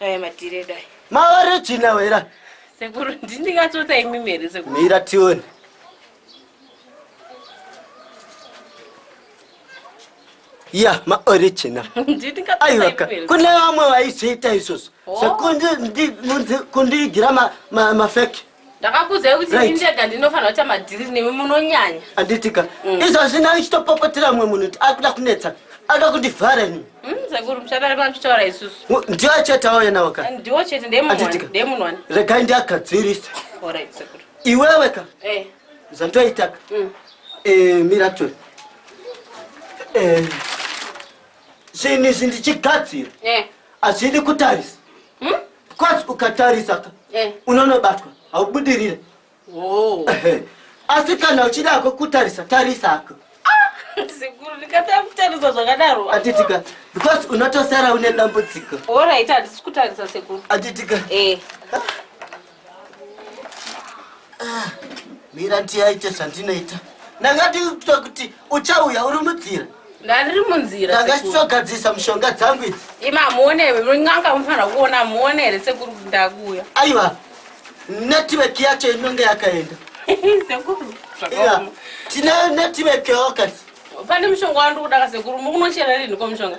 Aya matire dai. Mawari china wera. Sekuru ndingatota imi mere sekuru. Mira tione. ya maoriginal aiwaka kune vamwe vaizviita izvozvo oh. sekundiigira mafeki ndakakuudzai kuti ini ndega ndinofanira kuita madhiriri nemi munonyanya anditika mm. izvozvi nani chitopopotera mumwe munhu kuti akuda kunetsa ada kundivhara ini mm, sekuru muchadari matichitaura isusu ndiwo chete auya nawo ka ndiwo chete ndemunwani regai ndiagadzirisa iwewe ka eh. zvandoitaka mm. eh, miratori eh, zvinhu izvi ndichigadzira hazvidi kutarisa hmm? bcause ukatarisa ka eh. unonobatwa haubudirire oh. asi kana uchidako kutarisa tarisako sekuru ndikatanga kutarisa zvakadaro atitika because unotosara une dambudziko orit handisi kutarisa sekuru atitika eh. Ah, mira ndiyaite zvandinoita ndanga ndikuita kuti uchauya uri mudzira ndandiri munzira ndanga ndichitogadzirisa mushonga dzangu idzi ima hamuone here murin'anga mufanira kuona hamuone here sekuru kuti ndakuuya aiwa netiweki yacho inonge yakaenda sekuru tine netiweki yoka pane mushonga wandikuda ka sekuru mukunochera rinhi ko mushonga